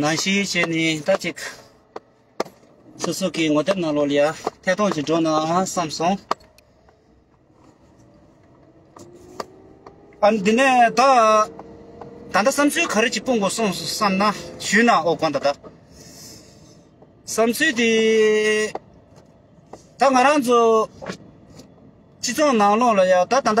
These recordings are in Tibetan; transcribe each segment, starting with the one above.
ནང་བཞིན་བྱས་ནས་ད་ཅིག། སོ་སོ་གའི་ངོ་དེབ་ནང་ལོག་ལ་ཐད་གཏོང་ཅིག་འགྲོ་ནའང་བསམ་སོང། ཨ་འདི་ནས་ད། ད་ལྟ་བསམ་ཚུལ་ག་རེ་ཅིག་སྤུངས་དགོས་སོང་བསམ་ན་ཞུས་ན་ཨོ་དགོངས་ད་ད། བསམ་ཚུལ་དེ། ད་ང་རང་ཚོ། སྤྱི་ཚོགས་ནང་ལོག་ལ་ཡང་ད་ད་ལྟ།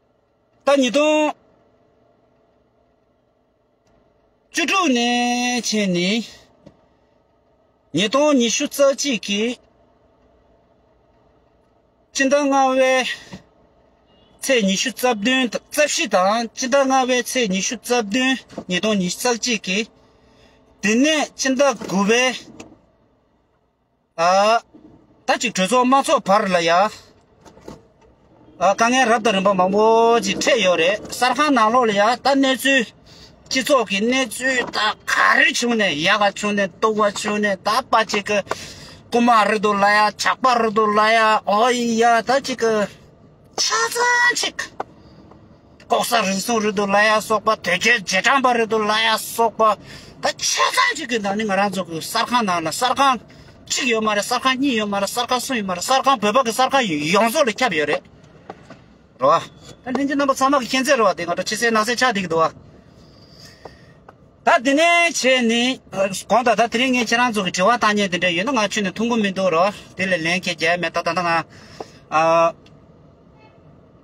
ཟླ་ཉིས་སྟོང་བཅུ་དྲུག་ནས་ཕྱིན་ནས་ཉིས་སྟོང་ཉི་ཤུ་རྩ་གཅིག་གི་སྤྱི་ཟླ་ལྔ་བའི་ཚེས་ཉི་ཤུ་རྩ་བདུན་རྩ་བཞི་དང་སྤྱི་ཟླ་ལྔ་བའི་ཚེས་ཉི་ཤུ་རྩ་བདུན་ཉིས་སྟོང་ཉི་ཤུ་རྩ་གཅིག་གི་དེ་ནས་སྤྱི་ཟླ་དགུ་བའི་ད་ཅིག་གྲོས་ཚོགས་དམངས་ཚོགས་བར་ལ་ཡང་དཀའ་ངལ་རབ་དང་རིམ་པ་མང་པོ་ཅིག་འཕྲད་ཡོད་རེད་གསར་ཁང་ནང་ལོགས་ལ་ཡང་ད་གནས་ཚུལ་སྤྱི་ཚོགས་ཀྱི་གནས་ཚུལ་ད་ག་རེ་བྱུང་ནས་ཡག་ག་བྱུང་ནས་སྟུག་བ་བྱུང་ནས་ད་པ་ཅིག་གི་རྐུ་མ་རུལ་འདུག་ལ་ཡ་ཇག་པ་རུལ་འདུག་ལ་ཡ་ཨོ་ཡི་ཡ་ད་ཅིག་གི་ཆ་ཚང་ཅིག་ལྐོག་ཟ་རིན་སོང་རེད་འདུག་ལ་ཡ་སོགས་པ་དོལ་རྒྱལ་རྗེས་འབྲང་པ་རེད་འདུག་ལ་ཡ་སོགས་པ་ད་ཆ་ཚང་གཅིག་གི་ནང་ནས་ང་རང་ཚོ་གི་གསར་ཁང་ནང་ལ་གསར་ཁང་གཅིག་ཡོད་མ་རེད་གསར་ཁང་གཉིས་ཡོད་མ་རེད་གསར་ཁང་གསུམ་ཡོད་མ་རེད་གསར་ཁང་བོད་པ་གི་གསར་ཁང་ཡོངས་རྫོགས་ལ་ཁྱབ་ཡོད་རེད་རེད་བ། ད་ལྷན་རྒྱུ་རྣམ་པ་ཚང་མ་གི་མཁྱེན་རྩལ་རེད་བ་དེ་ང་ཚོ་ཕྱི་གསལ་ནང་གསལ་ཆགས་བསྡད་ཀྱི་འདུག་བ། ད་དེ་ནས་ཕྱེ་ནས་གོང་ད་ད་དེ་རིང་ངས་ཁྱེད་རང་ཚོ་གི་དྲི་བ་བཏང་སྙན་དེ་འདྲ་ཡོད་ན་ང་ཆུ་ནས་འཐུང་གི་མི་འདུག་རེད་བ། དེ་ལས་ལན་ཁྱེད་རྒྱལ་མེད་ད་ད་ང།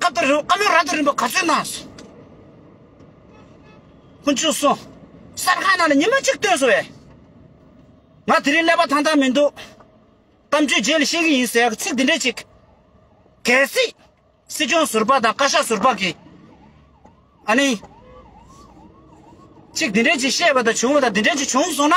བཀའ་དང་རི་བོ་བཀའ་མོལ་ར་དང་རིམ་པ་ག་ཚོད་གནང་སོང། ཀུན་སྤྱོད་སོགས་གསར་ཁང་ནང་ལ་ཉི་མ་གཅིག་བཏོན་སོང་བས། ང་དེ་རིང་ཀླད་པ་ཐང་ཐང་མི་འདུག། གཏམ་རྒྱུད་རྗེས་ལ་ཤེས་ཀྱི་ཡིན་ཟེར་ཡག་ཚིག་འདི་འདྲ་ཅིག། གལ་སྲིད། སྲིད་སྐྱོང་ཟུར་པ་དང་བཀའ་ཤག་ཟུར་པ་གིས། ཨ་ནི། ཅིག་འདི་འདྲ་ཅིག་བཤད་པ་དང་བྱུང་བ་དང་འདི་འདྲ་ཅིག་བྱུང་སོང་ན།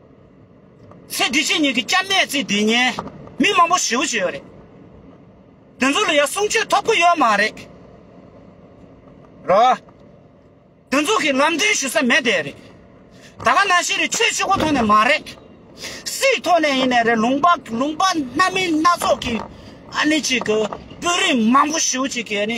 ཚེ་འདི་ཕྱི་གཉིས་ཀྱི་སྐྱབས་གནས་ཚེ་འདི་ཉིད་མི་མང་པོ་ཞེའུ་ཞེས་ཡོད་རེད་དེ་ཚོ་ལ་ཡང་གསུང་ཆོས་ཐོབ་གི་ཡོད་མ་རེད་རོ། དེ་ཚོ་གིས་ལམ་སྟོན་ཞུ་ས་མེད་དེ་རེད། ད་ག་ནང་བཞིན་རེད་ཆོས་ཕྱི་གོ་ཐོག་ནས་མ་རེད། སྲིད་ཐོག་ནས་ཡིན་ནས་རེད་ལུང་པ་ལུང་པ་སྣ་མིན་སྣ་ཚོགས་ཀྱི་ཨ་ནི་ཅིག་གི་དཔོན་རིགས་མང་པོ་ཞེའུ་ཅིག་གིས་ཨ་ནི།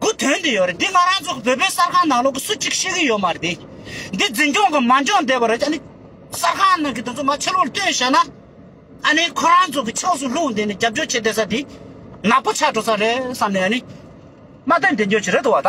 གུ་དོན་དུ་ཡོད་རེད་འདི་ང་རང་ཚོ་བོད་པའི་གསར་ཁང་ནང་ལོག་གི་སུ་གཅིག་ཤེས་ཀྱི་ཡོད་མ་རེད་དེ་འདི་འཛིན་སྐྱོང་གི་མ་འཇོག་འདས་པ་རེད་ཨཱ་ནི་གསར་ཁང་ནང་གི་དེ་ཚོ་མ་ཕྱི་ལོག་ལྟོས་བྱས་ན་ཨཱ་ནི་ཁོ་རང་ཚོ་གི་ཕྱོགས་སུ་ལྷུང་དེ་ནི་རྒྱབ་སྐྱོར་བྱེད་བསྡད་ས་དེ་ནག་པོ་ཆགས་འགྲོ་ས་རེད་བསམ་ནས་ཨཱ་ནི་སྨྲ་བསྟོད་འདེད་འཇོག་བྱེད་རེད་དུ་བ་ད།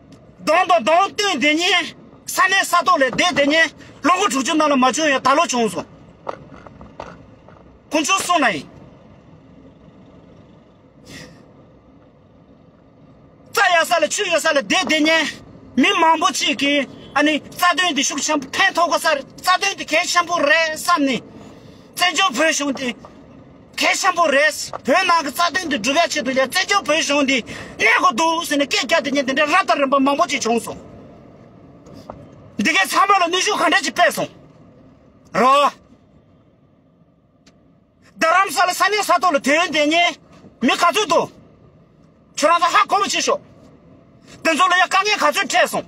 གདོང་དང་གདོང་བསྟུན་དེ་ཉིན། ས་གནས་ས་ཐོག་ལས་བསྡད་དེ་ཉིན། ལོ་ངོ་དྲུག་ཅུ་ནང་ལ་མ་བྱུང་ཡང་ད་ལོ་བྱུང་སོང། ཀུན་སྤྱོད་སྲུང་ན་ཡིན། རྩྭ་ཡག་ས་ལ་ཆུ་ཡོད་ས་ལ་བསྡད་དེ་ཉིན། མི་མང་པོ་གཅིག་གིས་ཨ་ནི་རྩ་དོན་དེ་ཤུགས་ཆེན་པོ་ཕན་ཐོགས་ག་སར་རྩ་དོན་དེ་གལ་ཆེན་པོ་རེད་བསམ་ནས། བཙན་བྱོལ་བོད་གཞུང་དེ། གལ་ཆེན་པོ་རེད། བོད་ནང་གི་རྩ་དོན་དེ་སྒྲུབ་ཡ་ཆེད་དུ་ཡ་བཙན་བྱོལ་བོད་གཞུང་འདི་གནས་དགོས་འདུག་ཟེར་ནས་སྐད་རྒྱག་དེ་ཉིན་དེ་འདྲའི་རབ་དང་རིམ་པ་མང་པོ་ཅིག་བྱུང་སོང། འདི་གའི་ཚང་མ་ལ་ནུས་ཤུགས་ག་འདྲ་ཅིག་སྤེལ་སོང་རོགས། རྡ་རམ་ས་ལ་ས་གནས་ས་ཐོག་ལ་དུས་ཡུན་དེ་ཉིན་མི་ག་ཚོད་འདུག་ཁྱོད་རང་ཚོ་ཧ་གོ་བོ་བྱེད་ཤོག། དེ་ཚོ་ལ་ཡ་དཀའ་ངལ་ག་ཚོད་འཕྲད་སོང།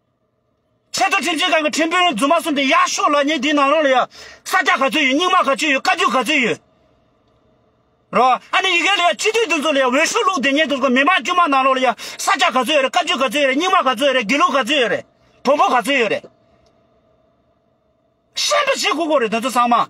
ཆེད་དུ་ཁྲིམས་འཛིན་ཁང་གི་ཁྲིམས་དཔོན་རྫུན་མ་གསུམ་དེ་ཡག་ཤོས་ལ་ཉེ་འདིའི་ནང་རང་ལ་ཡང་ས་སྐྱ་ག་ཚོད་ཡོད་རྙིང་མ་ག་ཚོད་ཡོད་བཀའ་རྒྱུད་ག་ཚོད་ཡོད་རེད་བ། ཨ་ནི་ཡི་གེ་ལ་ཡང་སྤྱི་འཐུས་འདི་ཚོ་ལ་ཡང་འོས་ཤོག་བླུགས་དེ་ཉེ་དུ་ཚོ་མི་མང་དཀྱུས་མ་ནང་རང་ལ་ཡང་ས་སྐྱ་ག་ཚོད་ཡོད་རེད་བཀའ་རྒྱུད་ག་ཚོད་ཡོད་རེད་རྙིང་མ་ག་ཚོད་ཡོད་རེད་དགེ་ལུགས་ག་ཚོད་ཡོད་རེད་བོན་པོ་ག་ཚོད་ཡོད་རེད། ཤེས་པ་བྱེད་དགོས་དགོས་རེད་འདི་ཚོ་ཚང་མ།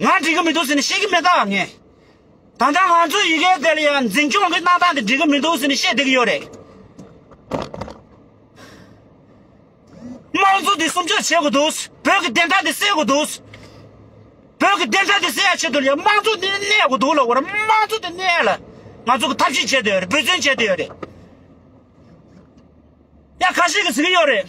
ང་འགྲིག་གི་མི་འདུག་ཟེར་ནས་བཤད་ཀྱི་མེད་དམ་ངས། ད་ལྟ་ང་ཚོའི་ཡི་གེ་དེ་ལ་ཡང་འཛིན་སྐྱོང་གི་གནང་སྟངས་དེ་འགྲིག་གི་མི་འདུག་ཟེར་ནས་བཤད་བསྡད་ཀྱི་ཡོད་རེད། དམངས་གཙོ་དེ་སྲུང་སྐྱོབ་བྱེད་དགོས་འདུག་བོད་ཀྱི་བདེན་མཐའ་དེ་སེལ་དགོས་འདུག། བོད་ཀྱི་བདེན་མཐའ་དེ་སེལ་བ་ཆེད་དུ་ལ་དམངས་གཙོ་དེ་གནས་དགོས་འདུག་ལ་དབར་དམངས་གཙོ་དེ་གནས་ལ་ང་ཚོ་གི་ཐབས་ཤེས་བྱེད་དུ་ཡོད་རེད་འབོད་བརྩོན་བྱེད་དུ་ཡོད་རེད། ཡ་ག་ཞིག་གིས་ཟེར་གྱི་ཡོད་རེད།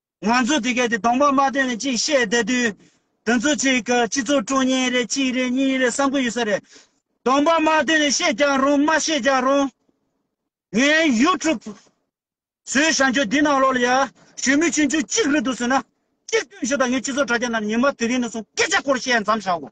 ང་ཚོས་དེ་གལ་ཏེ་གདོང་འབག་མ་བཏོན་ནས་ཅིག་བཤད་བསྡད་དུས། དེ་ཚོ་ཅིག་གི་སྤྱི་ཚོགས་ཁྲོད་གཉིས་རེད་གཅིག་རེད་གཉིས་རེད་བསམ་གི་ཡོད་ས་རེད། གདོང་འབག་མ་བཏོན་ནས་བཤད་རྒྱག་རུང་མ་བཤད་རྒྱག་རུང། ངའི YouTube། ཟོས་ཞང་ཁྱོད་འདི་ནང་ལོག་ལ་ཡ། ཞོན་མི་ཆུན་ཆུན་གཅིག་རེད་འདུག་ཟོས་ན། གཅིག་བཏོན་ཞོག་ད་ངས་སྤྱི་ཚོགས་དྲ་རྒྱ་ནང་ཉི་མ་དེ་རིང་ནས་བཟུང་སྐད་ཆ་སྐོར་བཤད་མཚམས་བཞག་གོ།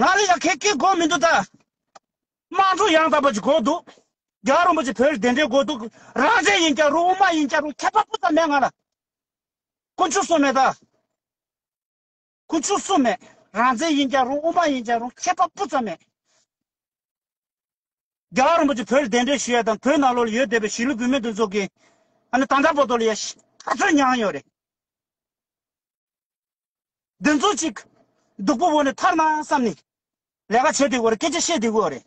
ང་ལ་ཡང་ཁེ་ཁེ་དགོས་མི་འདུག་ད། དམངས་གཙོ་ཡང་དག་པ་ཅིག་དགོས་འདུག། རྒྱ་རོང་པོ་ཆེ་བོད་བདེན་འབྲེལ་དགོས་འདུག་རང་བཙན་ཡིན་ཀྱང་རུང་དབུ་མ་ཡིན་ཀྱང་རུང་ཁྱད་པར་སྤུ་ཙམ་མེད་ང་ལ། ཁུ་མཆུ་སུ་མེད་ད། ཁུ་མཆུ་སུ་མེད་རང་བཙན་ཡིན་ཀྱང་རུང་དབུ་མ་ཡིན་ཀྱང་རུང་ཁྱད་པར་སྤུ་ཙམ་མེད། རྒྱ་རོང་པོ་ཆེ་བོད་བདེན་འབྲེལ་ཞུ་ཡ་དང་བོད་ནང་ལོག་ལ་ཡོད་བསྡད་པའི་གཞིས་ལུས་བུད་མེད་འདུ་འཛོམས་ཀྱིས། ཨ་ནི་ད་འདྲ་པོ་ཏོ་ལ་ཡ། ཤི་ཁ་ཚོད་མྱངས་ཡོད་རེད། འདི་ཚོ་གཅིག། སྡུག་པོ་བོ་ནི་ཐར་ན་བསམ་ནི། ལས་ཀ་བྱེད་དེ་གོ་རེ་སྐད་ཆ་བཤད་དེ་གོ་རེ།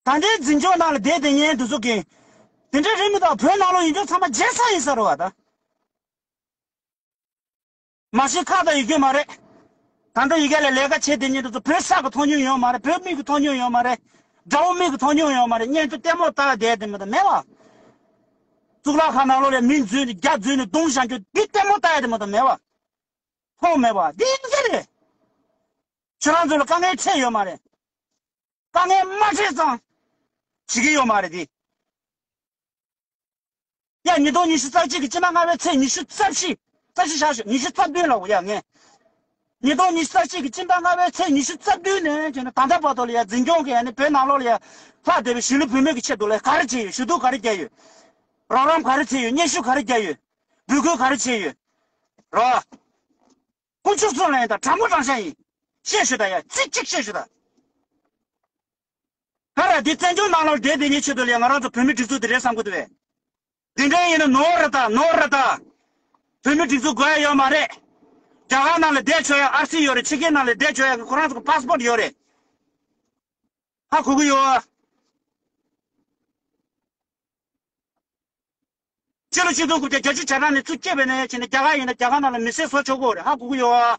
ད་འདྲའི་འཛིན་སྐྱོང་ནང་ལ་བསྡད་དེ་ཉན་དུ་ཟུག་གིན། དེ་འདྲའི་རེད་མི་ཐག་བོད་ནང་ལོག་ཡིན་སྐྱོང་ཚང་མ་རྗེ་ས་ཡིན་ས་རོ་བ་ད། མ་གཞི་ཁག་དང་ཡི་གེ་མ་རེད། ད་འགྲོ་ཡི་གེ་ལ་ལས་ཀ་བྱེད་དེ་ཉན་དུ་ཟུག་བོད་ས་གི་མཐོང་མྱོང་ཡོད་མ་རེད་བོད་མི་གི་མཐོང་མྱོང་ཡོད་མ་རེད། དགྲ་བོ་མི་གི་མཐོང་མྱོང་ཡོད་མ་རེད་བརྙན་ཐུང་ལྟད་མོ་བལྟ་བསྡད་དེ་མི་ད་མེད་བ། གཙུག་ལག་ཁང་ནང་ལོགས་ལས་མིང་རྫུན་རྒྱ་རྫུན་ནས་གདུང་བཞག་རྒྱུ་འདི་ལྟད་མོ་ལྟ་ཡ་དེ་མ་གཏོགས་མེད་པ། ཐོག་མེད་པ། འདི་ཡིན་གྱི་རེད། ཁྱོད་རང་ཚོ་ལ་དཀའ་ངལ་འཕྲད་ཡོད་མ་རེད། དཀའ་ངལ་མ་འཕྲད་ཙང། བྱེད་ཀྱི་ཡོད་མ་རེད་དེ། ཡ་ཉིས་སྟོང་ཉི་ཤུ་རྩ་གཅིག་གི་སྤྱི་ན་སྔ་བའི་ཚེས་ཉི་ཤུ་རྩ་བཞི། རྩ་བཞི་བཞག་ཞོག་ཉི་ཤུ་རྩ་བདུན་ལ་འོ་ཡ་ངས། ཉིས་སྟོང་ཉི་ཤུ་རྩ་གཅིག་གི་སྤྱི་ཟླ་ལྔ་བའི་ཚེས་ཉི་ཤུ་རྩ་བདུན་ནས་བརྒྱུད་ནས་ད་ལྟ་བར་དུ་ལ་ཡ་འཛིན་སྐྱོང་གིས་ཡ་ནི་བོད་ནང་ལོགས་ལ་ཡ་ལྷག་བསྡད་པའི་གཞིས་ལུས་བོད་མི་གི་ཆེད་དུ་ལས་ག་རེ་བྱས་ཡོད་ཞུ་གཏུག་ག་རེ་བརྒྱབ་ཡོད། རོགས་རམ་ག་རེ་བྱས་ཡོད་སྙན་ཞུ་ག་རེ་བརྒྱབ་ཡོད། འབོད་སྐུལ་ག་རེ་བྱས་ཡོད། རོགས། དཀོན་མཆོག་གསུམ་ལ་ཡིན་དང་དྲང་པོ་དྲང་བཞག་ཡིན། བཤད་ཞུ་དང་ཡ་གཅིག་གཅིག་བཤད་ཞུ་དང། ཨ་ར་འདི་བཙན་བྱོལ་ནང་ལོག་འགྲེལ་འབེལ་ཉེས་བྱས་དོ་ལས་ང་རང་ཚོ་བོད་མི་སྒྲིག་འཛུགས་འདི་རེད་བསམ་དགོས་དོ་བས། འདི་འདྲ་ཡིན་ན་ནོ་ར་ད་ནོ་ར་ད། བོད་མི་སྒྲིག་འཛུགས་དགོས་ཡ་ཡོད་མ་རེད། རྒྱ་གར་ནང་ལ་བསྡད་ཆོག་ཡ་ཨར་སི་ཡོད་རེད་ཕྱི་རྒྱལ་ནང་ལ་བསྡད་ཆོག་ཡ་ཁོ་རང་ཚོ་གི Passport ཡོད་རེད། ཧ་གོ་གི་ཡོད། ཕྱི་ལོ་ཆིག་སྟོང་དགུ་བརྒྱ་གྱ་བཅུ་བྱ་གྲངས་ནས་ཚུར་སྐྱེས་པའི་ནང་ཡ་བྱས་ནས་རྒྱ་གར་ཡིན་ན་རྒྱ་གར་ནང་ལ་མི་སེར་བཟོ་ཆོག་གོ་རེད་ཧ་གོ་གི་ཡོད།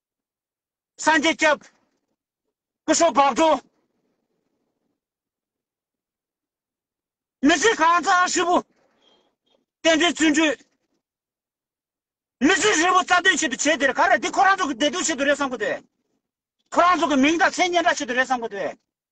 སངས་རྒྱས་སྐྱབས། སྐུ་ཞོགས་བབས་འགྲོ། མི་ཚེ་གང་བརྩི་ཨ་ཧྲིལ་པོ། བསྟན་འགྲོའི་བརྩོན་འགྲུས། མི་ཚེ་ཧྲིལ་པོ་རྩ་དོན་ཆེད་དུ་བྱས་དེར་ག་རེ་འདི་ཁོ་རང་ཚོ་གི་བདེ་སྡུག་ཆེད་དུ་རེད་བསམ་གོ་དེ། ཁོ་རང་ཚོ་གི་མིང་དང་མཚན་སྙན་གྲགས་ཆེད་དུ་རེད་བསམ་གོ་དེ།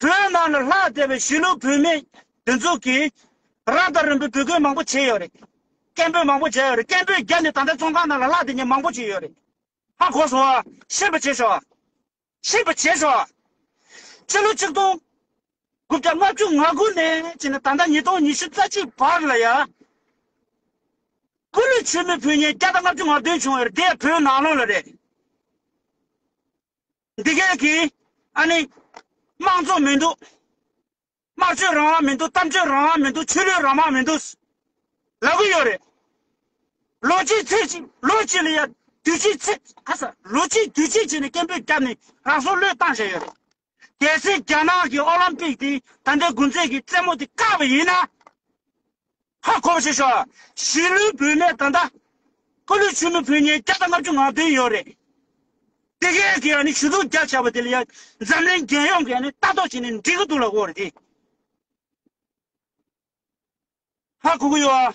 བོད་ནང་ལ་ལྷག་བསྡད་པའི་གཞིས་ལུས་བུད་མེད་འདི་ཚོ་གིས་རང་དང་རིམ་པའི་བུ་རྒོད་མང་པོ་བྱས་ཡོད་རེད། སྐད་འབོད་མང་པོ་བྱས་ཡོད་རེད་སྐད་འབོད་བརྒྱབ་ནས་ད་ལྟ་ཙོང་ཁང་ནང་ལ་ལྷག་བསྡད་མཁན་མང་པོ་ཞིག་ཡོད་རེད། ཧ་གོ་སོང་ཨ། ཤེས་པ་བྱེད་ཤོག་ཨ། ཤེས་པ་བྱེད་ཤོག་ཨ། ཕྱི་ལོ་ཆིག་སྟོང་དགུ་བརྒྱ་ལྔ་བཅུ་ང་དགུ་ནས་བྱས་ནས་ད་ལྟ་ཉིས་སྟོང་ཉི་ཤུ་རྩ་གཅིག་བར་ལ་ཡ། སྐུ་ལུས་ཆོས་མེད་བུ་ཉེས་བརྒྱ་དང་ལྔ་བཅུ་ང་བདུན་བྱུང་ཡོད་རེད་དེ་ཡང་བོད་ནང་ལོགས་ལ་རེད། འདི་ག་གི་ཨ་ནི་དམངས་གཙོ་མི་འདུག་སྨྲ་བརྗོད་རང་དབང་མི་འདུག་གཏམ་བརྗོད་རང་དབང་མི་འདུག་ཆོས་ལུགས་རང་དབང་མི་འདུག་ལབ་གི་ཡོད་རེད། ལོ་གཅིག་ཚེས་གཅིག་ལོ་གཅིག་ལ་ཡ་དུས་གཅིག་ཚེ་ཨ་ས་ལོ་གཅིག་དུས་གཅིག་བྱས་ནས་སྐད་འབོད་བརྒྱབ་ནས་རང་སྲོག་བློས་བཏང་བྱས་ཡོད་རེད། གལ་སྲིད་རྒྱ་ནག་གི་ཨོ་ལམ་པིག་དེ་ད་ལྟའི་དགུན་ཚེས་ཀྱི་རྩེད་མོ་དེ་བཀག་པ་ཡིན་ན། ཧ་གོ་བ་ཞིག་བྱུང། གཞིས་ལུས་བོད་གནས་ད་ལྟ། ཀོ་ལུས་ཆུ་མི་བོད་ཉིན་བརྒྱ་དང་ལྔ་བཅུ་ང་བདུན་ཡོད་རེད། དེ་ག་གི་ཡང་ནི་ཞུ་གཏུག་རྒྱག་བྱ་བ་དེ་ལ་ཡང་འཛམ་གླིང་རྒྱལ་ཡོངས་ཀྱི་ཡང་ནི་ལྟ་རྟོག་བྱེད་ནས་འགྲིག་གི་འདུག་ལ་གོ་རེ་དེ། ཧ་གོ་གི་ཡོད།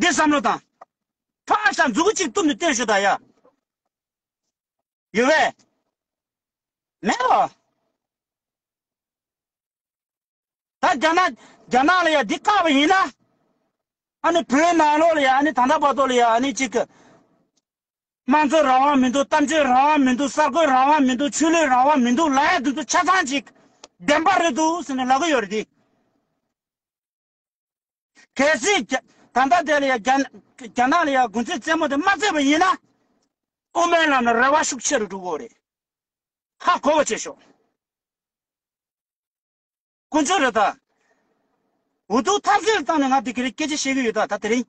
འདིར་བསམ་བློ་དང། ཕར་ཞག་འཛུགས་སྐུ་གཅིག་གཏུབ་ནས་བཏོན་ཞུ་དང་ཡ། ཡོད་བས། མེད་བ། ད་རྒྱ་ནག་རྒྱ་ནག་ལ་ཡ་འདི་བཀག་པ་ཡིན་ན། ཨ་ནི་བོད་ནང་ལོགས་ལ་ཡ་ཨ་ནི་ད་ལྟ་བར་དོ་ལ་ཡ་ཨ་ནི་གཅིག་གི། དམངས་གཙོ་རང་དབང་མི་འདུག་གཏམ་བརྗོད་རང་དབང་མི་འདུག་གསར་འགོད་རང་དབང་མི་འདུག་ཆོས་ལུགས་རང་དབང་མི་འདུག་ལ་ཡ་འདི་ཚོ་ཆ་ཚང་གཅིག་བདེན་པ་རེད་འདུག་ཟེར་ནས་ལབ་གི་ཡོད་རེད་དེ། གལ་སྲིད་ད་ལྟ་དེ་ལ་ཡང་རྒྱ་ནག་ལ་ཡང་དགུན་ཚོད་རྩེད་མོ་དེ་མ་རྩེ་བ་ཡིན་ན། དབུ་མའི་ལམ་ལ་རེ་བ་ཤུགས་ཆེ་རུ་འགྲོ་གི་རེད། ཧ་གོ་བ་བྱེད་ཤོག། དཀོན་མཆོག་རེད་ད། འུ་ཐུག་ཐབས་ཟད་བཏང་ནས་ང་དེ་ག་རེ་སྐད་ཆ་བཤད་གི་ཡོད་ད་ད་དེ་རིང།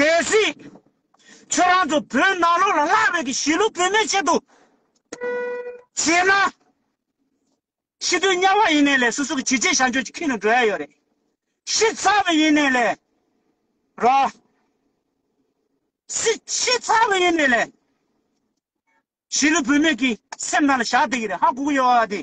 གལ་སྲིད། ཁྱོད་རང་ཚོ་བོད་ནང་ལོགས་ལ་སླར་བས་ཀྱི་གཞིས་ལུས་བོད་མའི་ཆེད་དུ་བྱེད་ན། ཤི་དུས་དམྱལ་བ་ཡིན་ནའི་ལས་སོ་སོ་གི་བྱས་རྗེས་བྱང་ཆུབ་ཀྱི་ཁྱིམ་དུ་འགྲོ་ཡ་ཡོད་རེད། ཤི་ཚར་བས་ཡིན་ནའི་ལས་རོགས། སྲིད་ཤི་ཚར་བས་ཡིན་ནའི་ལས། གཞིས་ལུས་བོད་མའི་གི་སེམས་ནང་ལ་བཞག་བསྡད་ཀྱི་རེད་ཧ་གོ་གི་ཡོད་བ་དེ།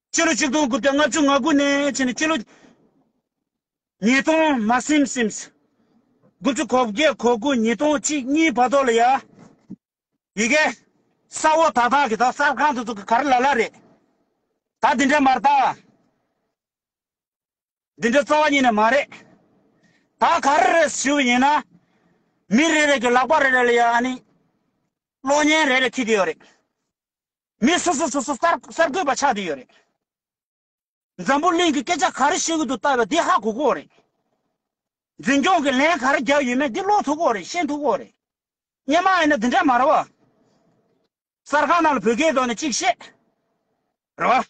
སྤྱི་ལོ་ཆིག་སྟོང་དགུ་བརྒྱ་ལྔ་བཅུ་ང་དགུ་ནས་ཕྱིན་ནས་སྤྱི་ལོ་ཉིས་སྟོང་མ་སིམ་སིམས། དགུ་བཅུ་གོ་བརྒྱད་གོ་དགུ་ཉིས་སྟོང་གཅིག་གཉིས་བར་དོ་ལ་ཡ། ཡི་གེ། ས་འོག་དག་དག་གི་དག་གསར་ཁང་དུ་ཚུགས་གར་ལ་ལ་རེད། ད་འདི་འདྲ་མར་དག། འདི་འདྲ་རྩ་བ་ཉིད་ནས་མ་རེད། ད་གར་རེད་ཞུ་བ་ཡིན་ན། མི་རེ་རེ་གི་ལག་པ་རེ་རེ་ལ་ཡ་ནི། གློག་བརྙན་རེ་རེ་འཁྱིལ་དེ་ཡོད་རེད། མི་སོ་སོ་སོ་སོ་གསར་གསར་འགོད་པ་ཆགས་བསྡད་ཡོད་རེད། འཛམ་བུ་གླིང་གི་སྐད་ཆ་ག་རེ་བཤད་ཀྱི་འདུག་ལྟ་བའི་འདི་ཧ་གོ་གོ་རེད། འཛིན་སྐྱོང་གི་ལན་ག་རེ་རྒྱག་ཡོད་མེད་འདི་ཀློག་ཐུབ་གོ་རེད་ཤེས་ཐུབ་གོ་རེད། སྙན་མ་ཡིན་ན་འདི་འདྲ་མ་རེད་བ། གསར་ཁང་ནང་ལ་བོད་སྐད་ཐོག་ནས་གཅིག་བཤད། རེད་བ།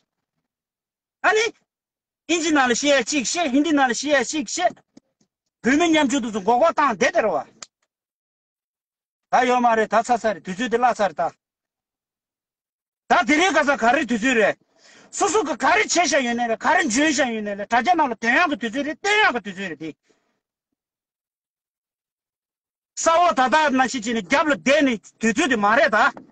ཨ་ནི། ཨིན་ཇི་ནང་ལ་བཤད་ཡ་གཅིག་བཤད་ཧིན་དི་ནང་ལ་བཤད་ཡ་གཅིག་བཤད། བོད་མི་མཉམ་ཆུང་དུ་ཚོ་འགོག་འགོག་བཏང་བསྡད་དེ་རེད་བ། ད་ཡོད་མ་རེད་ད་ཚར་ཚར་རེད་དུས་ཚོད་དེ་བརླག་ཚར་རེད་ད། ད་དེ་རིང་ག་ས་ག་རེ་དུས་ཚོད་རེད། སོ་སོ་གིས་ག་རེ་བྱས་བཞག་ཡོད་ནའི་རེད་ག་རེ་འཇོན་བཞག་ཡོད་ནའི་རེད་དྲ་རྒྱ་ནང་ལ་དོན་ཡག་གི་དུས་ཚོད་རེད་བསྟོད་ཡག་གི་དུས་ཚོད་རེད་དེ། ས་འོག་ད་ད་ན་ཤི་བྱས་ནས་རྒྱབ་ལ་བསྡད་ནས་དུས་ཚོད་དེ་མ་རེད་ད།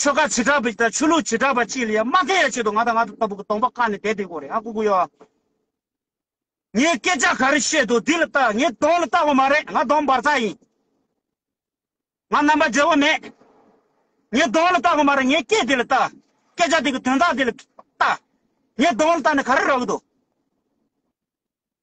ཆོལ་ཁ་བྱེ་བྲག་པ་དང་ཆོས་ལུགས་བྱེ་བྲག་པ་གཅིག་ལ་ཡང་མ་ཁེལ་ཡ་ཆེད་དུ་ང་དང་ང་ལྟ་བུ་གི་སྟོང་པ་བཀག་ནས་བསྡད་དེ་གོ་རེད་ཨ་ཁུ་ཁུ་ཡོ། ངས་སྐད་ཆ་ག་རེ་བཤད་འདུག་འདི་ལ་ལྟ་ངས་གདོང་ལ་ལྟ་བ་མ་རེད་ང་གདོང་འབར་ཚ་ཡིན། ང་རྣམ་པ་འབྲེལ་བ་མེད། ངས་གདོང་ལ་ལྟ་བ་མ་རེད་ངས་སྐད་འདི་ལ་ལྟ། སྐད་ཆ་འདི་གི་དོན་དག་འདི་ལ་ལྟ། ངས་གདོང་ལ་ལྟ་ནས་ག་རེ་རག་གི་འདུག།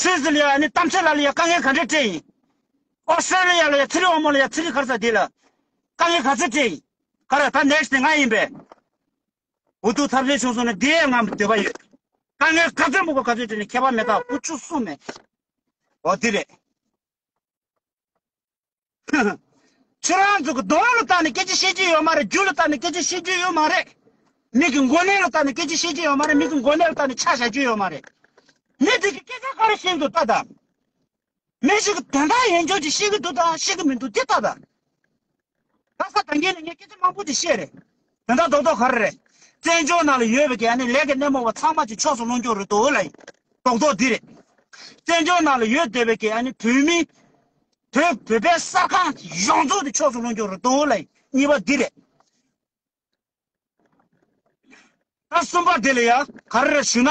སི་ཛི་ལི་ཡ་ནི་གཏམ་འཆལ་ལ་ལ་ཡ་དཀའ་ངལ་ག་འདྲས་སྤྲད་ཡིན། ཨོ་སི་ཏྲེ་ལི་ཡ་ལ་ཡ་ཚི་རི་འོ་མོ་ལ་ཡ་ཚི་རི་གྷར་ས་དེ་ལ་དཀའ་ངལ་ག་ཚོད་སྤྲད་ཡིན། ཁ་ར་ད next དེ་ང་ཡིན་པས། འུ་ཐུག་ཐབས་ཟད་བྱུང་སོང་ནས་འདི་ཡས་ང་འདོད་པ་ཡོད། དཀའ་ངལ་ག་ཚོད་མུག་པ་ག་ཚོད་སྤྲད་ནས་ཁྱད་པར་མེད་ད་བུ་ཆུ་གསུམ་མེད། འོ་དེ་རེད། ཧཧཧ། ཁྱོད་རང་ཚོ་གི་གདོང་ལ་ལྟ་ནས་སྐད་ཆ་བཤད་ཀྱི་ཡོད་མ་རེད་རྒྱུ་ལ་ལྟ་ནས་སྐད་ཆ་བཤད་རྒྱུ་ཡོད་མ་རེད། མིག་གི་མགོ་ནད་ལ་ལྟ་ནས་སྐད་ཆ་བཤད་ཀྱི་ཡོད་མ་རེད་མིག་གི་མགོ་ནད་ལ་ལྟ་ནས་ཕྱག་བཞག་རྒྱུ་ཡོད་མ་རེད། མི་དེ་གི་སྐད་ཆ་ག་རེ་བཤད་འདུག་ལྟ་དང། མི་ཞིག་གི་དོན་དག་ཡིན་ཆོག་ཅིག་བཤད་གི་འདུག་དང་བཤད་གི་མི་འདུག་དེ་ལྟ་དང། ལྷ་ས་གྲོང་ཁྱེར་ནས་ངས་སྐད་ཆ་མང་པོ་ཅིག་བཤད་རེད། དེ་འདྲ་རྡོག་རྡོག་ག་རེ་རེད། བཙན་བྱོལ་ནང་ལ་ཡོད་པའི་གན་ནི་ལས་ཀའི་སྣེ་མོ་བ་ཚང་མ་གཅིག་ཕྱོགས་སུ་སློང་རྒྱུ་རེད་དོ་ལ་ཡིན། རྡོག་རྡོག་འདི་རེད། བཙན་བྱོལ་ནང་ལ་ཡོད་བསྡད་པའི་གན་ནི་བོད་མི། བོད་བོད་པའི་གསར་ཁང་གཞོང་རྫོགས་འདི་ཕྱོགས་སུ་སློང་རྒྱུ་རེད་དོ་ལ་ཡིན་གཉིས་པ་འདི་རེད། ད་གསུམ་པ་འདི་ལ་ཡང་ག་རེ་རེད་ཞུ་ན།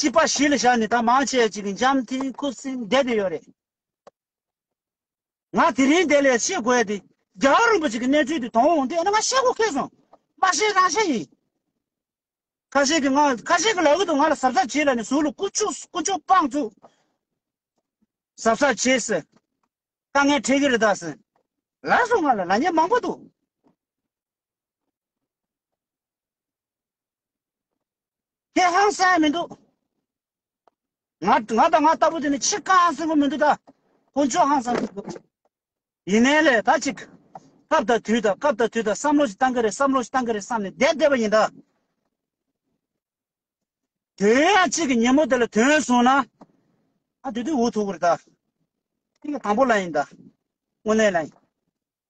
སྤྱི་པ་གཞིས་ལ་ཤར་ནས་ད་མང་ཆེ་གཅིག་འཇམ་མཐིང་ཁུ་སིམ་བསྡད་དེ་ཡོད་རེད། ང་དེ་རིང་དེ་ལས་ཤེས་དགོས་དེ། རྒྱ་གར་རིན་པོ་ཆེ་གི་གནས་ཚུལ་དེ་དོང་འོང་དེ་ཨ་ན་ང་ཤེས་དགོས་ཁེལ་སོང། མ་ཤེས་རང་ཤེས་ཡིན། ཁ་ཤས་ཀྱི་ང་ཁ་ཤས་ཀྱི་ལག་ཏུ་ང་ལ་ཟབ་ཟབ་བྱེད་ལ་ནི་ཟུག་ལ་ཀུ་ཅུ་ཀུ་ཅུ་སྤང་བཙུགས། ཟབ་ཟབ་བྱེད་ཟེར། དཀའ་ངལ་འཕྲད་ཀྱི་རེད་ད་ཟེར། ལར་སོང་ང་ལ་ལ་ཉེས་མང་པོ་འདུག། ཁྱེད་ཧང་སངས་མི་འདུག། ང་ང་དང་ང་ལྟ་བུ་དེ་ནི་ཆེས་དཀའ་ཧང་སེང་པོ་མི་འདུག་ད། ཁོང་ཅུང་ཧང་སངས་འདུག། ཡིན་ནའི་ལས་ད་ཅིག། སྐབས་དང་དུས་དང་སྐབས་དང་དུས་དང་བསམ་བློ་ཞིག་བཏང་གི་རེད་བསམ་བློ་ཞིག་བཏང་གི་རེད་བསམ་ནས་བསྡད་བསྡད་པ་ཡིན་ད། དོན་ཡང་གཅིག་གི་ཉིན་མོ་དེ་ལ་དོན་བཟུང་ན། ད་དེ་དུས་འུ་ཐུག་གི་རེད་ད། དེ་གི་དང་པོ་ལ་ཡིན་ད། དངོས་གནས་ལ་ཡིན།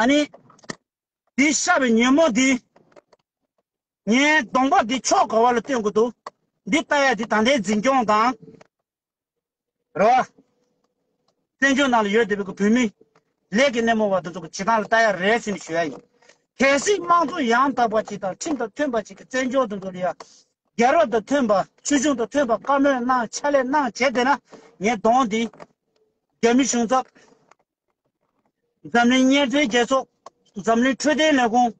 ཨ་ནི། འདི་ཤ་བའི་ཉོན་མོངས་འདི། ངས་སྡོང་པོ་འདི་ཕྱོགས་ག་བ་ལ་སྟོན་དགོས་འདུག་འདི་ལྟ་ཡ་འདི་ད་ལྟའི་འཛིན་སྐྱོང་དང། རེ་བ། བཙན་བྱོལ་ནང་ལ་ཡོད་བསྡད་པའི་བོད་མི། ལས་ཀྱི་སྣེ་མོ་བ་དེ་ཚོ་གི་བྱེད་སྟངས་ལ་ལྟ་ཡ་རེད་ཟེར་ནས་ཞུ་ཡ་ཡིན། གལ་སྲིད་དམངས་གཙོ་ཡང་དག་པ་ཅིག་དང་ཁྲིམས་དང་མཐུན་པ་ཅིག་གི་བཙན་བྱོལ་དེ་ཚོ་ལ་ཡ། རྒྱལ་རབས་དང་མཐུན་པ་ཆོས་གཞུང་དང་མཐུན་པ་བཀའ་མོལ་གནང་ཕྱག་ལས་གནང་བྱས་བསྡད་ན་ངས་སྡོང་འདི། རྒྱ་མི་གཞུང་ཚབ། འཛམ་གླིང་བརྙན་འཕྲིན་རྒྱལ་ཚོགས། འཛམ་གླིང་འཕྲོད་བསྟེན་ལས་ཁུངས།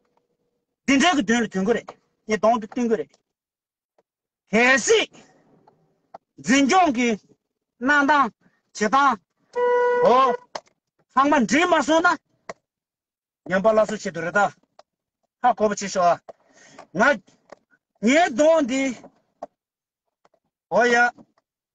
འདི་འདྲའི་གི་དོན་ལ་དུན་གོ་རེད། ངས་དོང་དུ་བསྟུན་གི་རེད། གལ་སྲིད། འཛིན་སྐྱོང་གི། གནང་སྟངས། བྱེད་སྟངས། འོ། ཚང་མ་འདྲིས་མ་སོང་ན། ཉམས་པ་སླར་གསོ་བྱེད་དུ་རེ་ད། ཧ་གོ་བ་བྱེད་ཤོག་ཨ། ང། ངའི་དོང་འདི། འོ་ཡ།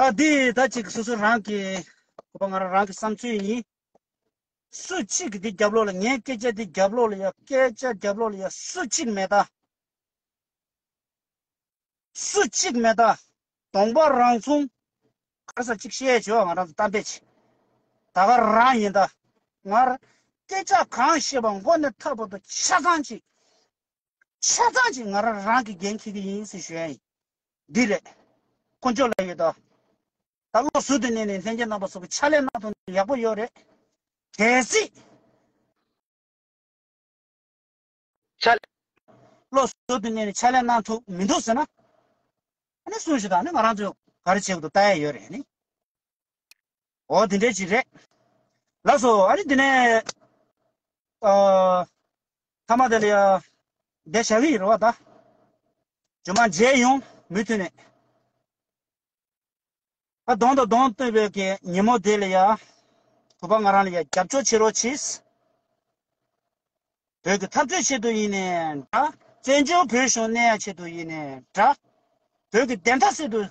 ཨ་འདི་ད་ཅིག་སོ་སོ་རང་གི། ཁོ་པ་ང་རང་རང་གི་བསམ་ཚུལ་ཡིན། སུ་གཅིག་གི་འདི་རྒྱབ་ལོག་ལ་ངའི་སྐད་ཆ་འདི་རྒྱབ་ལོག་ལ་ཡ་སྐད་ཆ་རྒྱབ་ལོག་ལ་ཡ་སུ་གཅིག་མེད་ད། སུ་གཅིག་མེད་ད། གདོང་པ་རང་མཚུངས། གར་ས་གཅིག་བཤད་བྱོས་ང་རང་ཚོ་གཏམ་དཔེ་བྱེད། ད་ག་རང་ཡིན་ད། ང་རང་སྐད་ཆ་གང་བཤད་པ་མགོ་ནས་མཐའ་བར་དུ་ཆ་ཚང་གཅིག། ཆ་ཚང་ཞིག་ང་རང་རང་གིས་འགན་འཁྱེར་གྱི་ཡིན་ཟེར་ཞོར། འདི་རེད། དཀོན་མཆོག་ལ་ཡོད་དོ། ད་བློ་ཟུར་དུ་གནས་ནས་ལྷན་སྐྱེས་རྣམ་པ་སོགས་ཀྱི་ཕྱག་ལས་གནང་ཐུབ་ན་ཡག་པོ་ཡོད་རེད། གལ་སྲིད། ཕྱག་ལས། བློ་ཟུར་དུ་གནས་ནས་ཕྱག་ལས་གནང་ཐུབ་མི་འདུག་ཟེར་ན། ཨ་ནི་གསུངས་ཞིག་དང་ནི་ང་རང་ཚོས་ག་རེ་བྱེད་དགོས་འདུག་བལྟ་ཡས་ཡོད་རེད། འོ་དེ་འདྲའི་ཞིག་རེད། ལགས་སོ། ཨ་རི་དེ་ནས། ཨ། ཐ་མ་དེ་ལ། བསྡད་བཞག་གི་ཡིན་རོ་བ་ད། ཇོ་མ་མཇལ་ཡོང། མུ་མཐུད་ནས། ཨ་གདོང་དང་གདོང་གཏོད་པའི་གི་ཉིན་མོ་དེ་ལ་ཡ། བུ་པ་ང་རང་ལ་ཡ་རྒྱབ་སྐྱོར་བྱེད་རོགས་གྱིས། བོད་ཀྱི་འཐབ་རྩོད་ཆེད་དུ་ཡིན་ནས་འདྲ། བཙན་བྱོལ་བོད་གཞུང་གནས་ཡ་ཆེད་དུ་ཡིན་ནས་འདྲ། བོད་ཀྱི་བདེན་མཐའ་སེལ་དུ།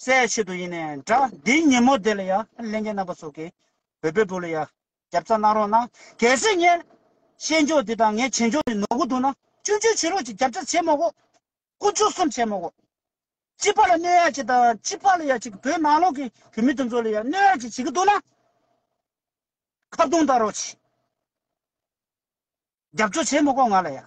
སའི་ཆེད་དུ་ཡིན་ནས་འདྲ། འདི་ཉིན་མོ་དེ་ལ་ཡང་གླིང་གའི་རྣམ་པ་ཚོ་གིས་བོད་པའི་བུ་ལ་ཡང་རྒྱབ་རྩ་གནང་རོགས་གནང། གལ་སྲིད་ངའི་བཤད་འཇོག་འདི་དང་ངའི་བྱེད་འཇོག་འདི་ནོར་གི་འདུག་ན་སྐྱོན་བརྗོད་བྱེད་རོགས་ཅིག་རྒྱབ་རྩ་བྱེད་མ་གོ། ཀུན་སྤྱོད་གསུམ་བྱེད་མ་གོ། སྤྱི་པ་ལ་གནོད་ཡག་ཅིག་དང་སྤྱི་པ་ལ་ཡག་ཅིག་བོད་ནང་ལོག་གི་བོད་མི་དེ་ཚོ་ལ་ཡང་གནོད་ཡག་ཅིག་བྱེད་ཀྱི་འདུག་ན། ཁ་བརྡུང་བལྟ་རོགས་ཅིག། རྒྱབ་སྐྱོར་བྱེད་མ་གོ་ང་ལ་ཡང།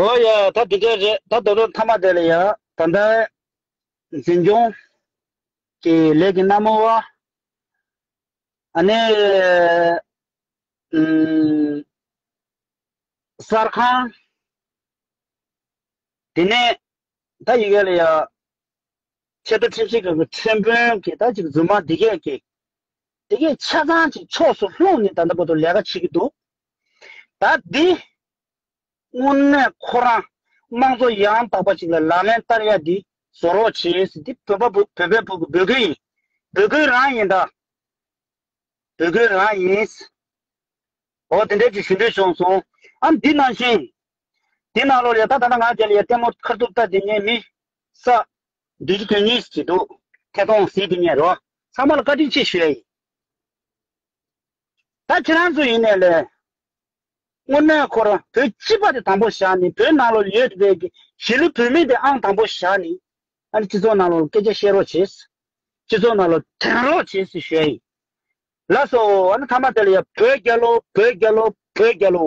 ཨོ་ཡ། ད་དེ་སྐད་རེད་ད་དོ་ལོ་ཐ་མ་དེ་ལ་ཡ། ད་ལྟ། འཛིན་སྐྱོང། གི་ལས་ཀྱི་སྣ་མོ་བ། ཨ་ནི། ཨུམ། གསར་ཁང། དེ་ནས། ད་ཡི་གེ་ལ་ཡ། ཆད་པའི་ཚིག་བཞི་ག་གི་ཁྲིམས་དཔོན་གྱིས་ད་ཅིག་རྫུན་མ་འདི་སྐད་ཀྱིས། དེ་གའི་ཆ་ཚང་ཅིག་ཕྱོགས་སུ་ལྷུང་ནས་ད་ལྟ་བར་དུ་ལས་ཀ་བྱེད་ཀྱི་འདུག་ད་འདི། དངོས་གནས་ཁོ་རང་དམངས་གཙོ་ཡང་དག་པ་ཞིག་ལ་ལག་ལེན་བསྟར་ཡ་འདི་བཟོ་རོགས་བྱེད་ཟེར་འདི་བོད་པ་བོད་པའི་བུ་གི་འབོད་སྐུལ་ཡིན་འབོད་སྐུལ་རང་ཡིན་ད། འབོད་སྐུལ་རང་ཡིན། འོ་དེ་འདྲས་ཅིག་ཞུ་འདོད་བྱུང་སོང་ཨ་འདི་ནང་བཞིན། དེ་ནང་ལོགས་ལས་ད་ད་ལྟ་ང་རྒྱ་ལ་ཡ་ལྟད་མོ་ཁར་ཐུབ་ལྟ་དེ་ངའི་མི་ས། འདི་ཅི་དོན་གཉིས་སུ་བྱེད་འདུག། ཐད་གཏོང་ཟིན་དེ་ཉན་རོགས། ཚང་མ་ལ་བཀའ་དྲིན་ཆེ་ཞུ་ཡ་ཡིན། ད་ཁྱེད་རང་ཚོ་ཡིན་ནས་ལས། སྔོན་མོས་ཁོ་རང་བོད་སྤྱི་པ་དེ་དང་པོ་བཞག་ནས་བོད་ནང་ལོ་ཡོད་རེད་ཀྱི་གཞིས་ལུས་བོད་མི་དེ་ཨང་དང་པོ་བཞག་ནས། ཨ་རི་སྤྱི་ཚོགས་ནང་ལོ་སྐད་ཆ་བཤད་རོགས་བྱེད། སྤྱི་ཚོགས་ནང་ལོ་དྲན་རོགས་བྱེད་ཞུ་ཡ་ཡིན། ལགས་སོ། ཨ་ན་ཐ་མ་དེ་ལ་ཡ་བོད་རྒྱལ་ལོ་བོད་རྒྱལ་ལོ་བོད་རྒྱལ་ལོ།